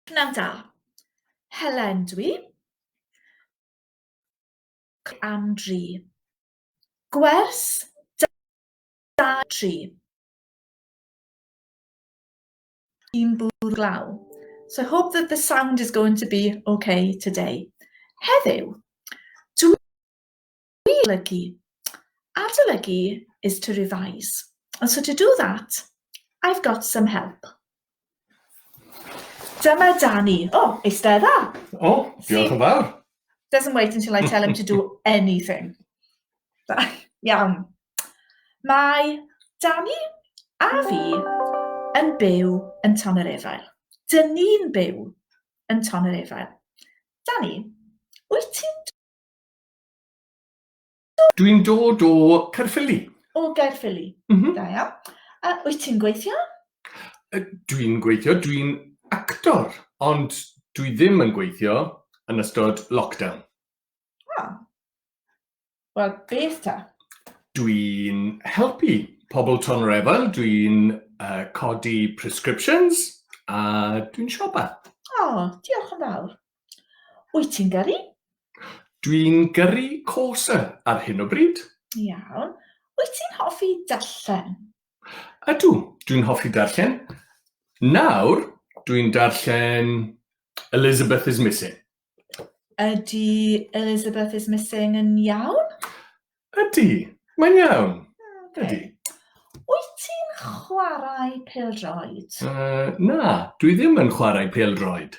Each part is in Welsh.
Pnawn da. Helen dw i. Am dri. Gwers da tri. Un bwrw glaw. So I hope that the sound is going to be okay today. Heddiw, dw Adolygu. Adolygu is to revise. And so to do that, I've got some help. Dyma Dani. O, oh, eistedda. O, oh, diolch yn fawr. Doesn't wait until I tell him to do anything. Iawn. Mae Dani a fi yn byw yn Ton yr Efail. Dyn ni'n byw yn Ton yr Efail. Dani, wyt ti'n Dwi'n dod o Caerffili. O Gaerffili. Mm -hmm. Da iawn. A wyt ti'n gweithio? Dwi'n gweithio, dwi'n actor, ond dwi ddim yn gweithio yn ystod lockdown. Ah. Wel, beth ta? Dwi'n helpu pobl Tonorefel, dwi'n uh, codi prescriptions a dwi'n siopa. O, oh, diolch yn fawr. Wyt ti'n gyrru? Dwi'n gyrru corsa ar hyn o bryd. Iawn. Wyt ti'n hoffi darllen? Ydw, dwi'n hoffi darllen. Nawr, dwi'n darllen Elizabeth is Missing. Ydy Elizabeth is Missing yn iawn? Ydy, mae'n iawn. Okay. Ydy. Wyt ti'n chwarae pel-droed? Uh, na, dwi ddim yn chwarae pel-droed.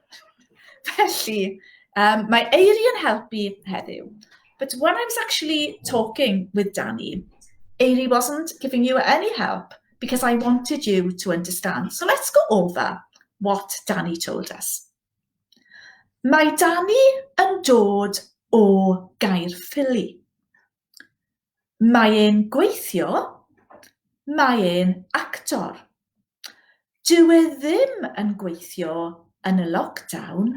Felly, um, mae Eiri yn helpu heddiw. But when I was actually talking with Danny, Eiri wasn't giving you any help because I wanted you to understand. So let's go over what Danny told us. Mae Danny yn dod o Gaerffili. Mae e'n gweithio, mae e'n actor. Dyw e ddim yn gweithio yn y lockdown.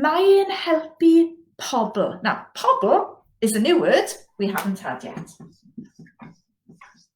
Mae e'n helpu pobl. Now, pobl is a new word we haven't had yet.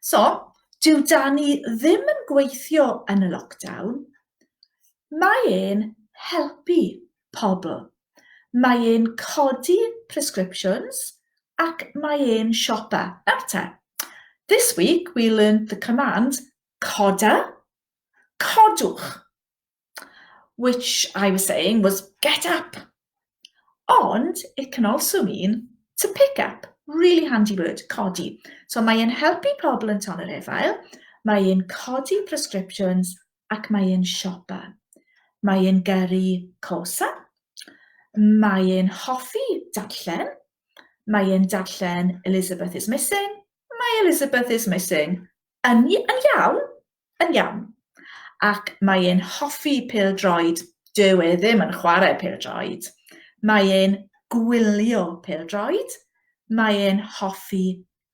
So, dyw Dani ddim yn gweithio yn y lockdown. Mae e'n helpu pobl. Mae e'n codi prescriptions ac mae e'n siopa. Nawr te, this week we learned the command coda, codwch. which I was saying was get up. Ond it can also mean to pick up. Really handy word, codi. So mae e'n helpu pobl yn ton yr efail, mae e'n codi prescriptions ac mae e'n siopa. Mae e'n gyrru cosa, mae e'n hoffi darllen, mae e'n darllen Elizabeth is Missing, mae Elizabeth is Missing yn, yn iawn, yn iawn. Ac mae e'n hoffi pêl-droed, dyw e ddim yn chwarae pêl-droed. Mae e'n gwylio pêl-droed, mae e'n hoffi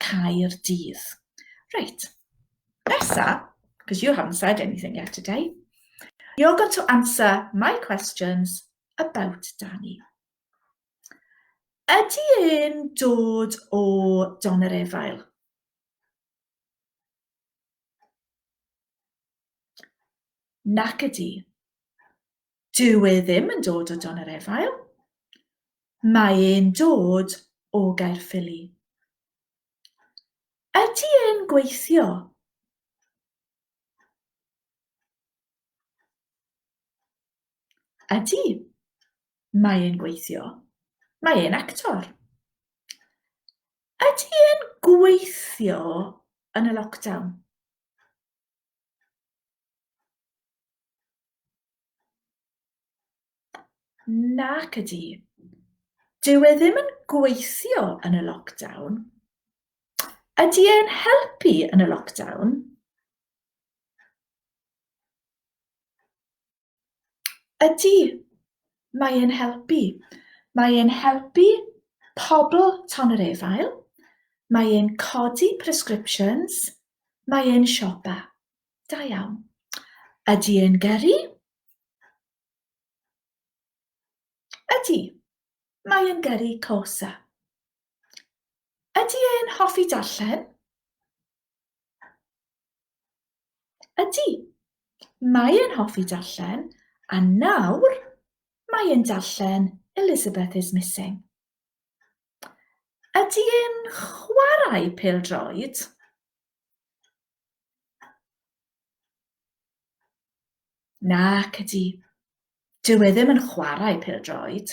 cael dydd. Reit, nesa, because you haven't said anything yet today, you're going to answer my questions about Danny. Ydy e'n dod o Don yr Efail? Nac ydy. Dyw e ddim yn dod o Don yr Efail. Mae e'n dod o Gaerffili. Ydy e'n gweithio? Ydy. Mae e'n gweithio. Mae e'n actor. Ydy e'n gweithio yn y lockdown? Nac ydy. Dyw e ddim yn gweithio yn y lockdown. Ydy e'n helpu yn y lockdown? Ydy, mae e'n helpu. Mae e'n helpu pobl ton yr efail, mae e'n codi prescriptions, mae e'n siopa. Da iawn. Ydy e'n gyrru? Ydy, mae e'n gyrru cosa. Ydy e'n hoffi darllen? Ydy. Mae e'n hoffi darllen, a nawr mae e'n darllen Elizabeth is Missing. Ydy e'n chwarae pêl-droed? Nac ydy. Dyw e ddim yn chwarae pêl-droed.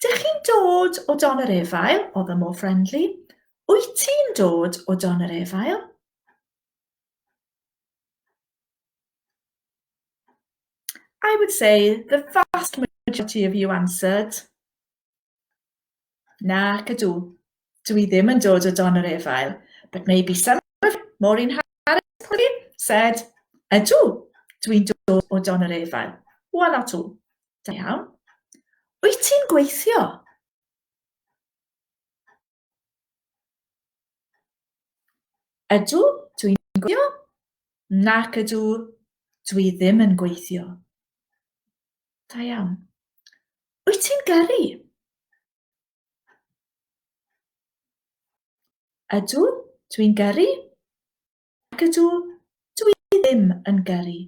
Dych chi'n dod o Don yr Efail? oedd o mor friendly. Wyt ti'n dod o Don yr Efail? I would say the vast majority of you answered. Na, cadw. dwi ddim yn dod o don yr efail, but maybe some of you, Maureen Harris, probably, said, ydw, dwi'n dod o don yr efail. Wel, not all. Da iawn. Wyt ti'n gweithio? Ydw, dwi'n gweithio. Nac ydw, dwi ddim yn gweithio. Da iawn. Wyt ti'n gyrru? Ydw, dwi'n gyrru. Ac ydw, dwi ddim yn gyrru.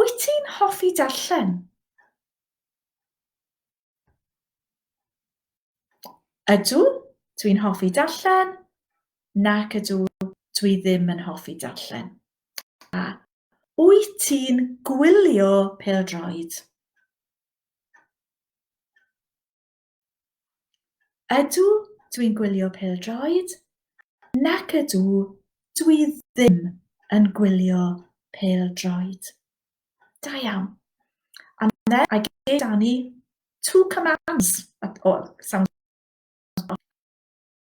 Wyt ti'n hoffi darllen? Ydw, dwi'n hoffi darllen. Nac ydw, dwi ddim yn hoffi darllen. A wyt ti'n gwylio pêl-droed? Ydw, dwi'n gwylio pêl-droed. Nac ydw, dwi ddim yn gwylio pêl-droed. Da iawn. And then I gave Danny two commands. Oh, sounds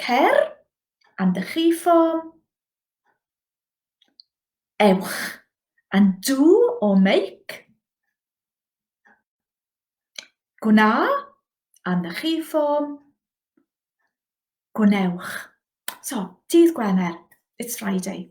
Cer and the chi form. Ewch and do or make. Gwna and the chi form. Gwnewch. So, dydd Gwener. It's Friday.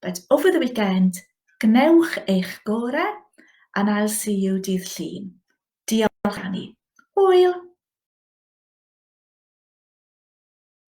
but over the weekend, gwnewch eich gore and I'll see you dydd Llun. Diolch Annie. Hwyl!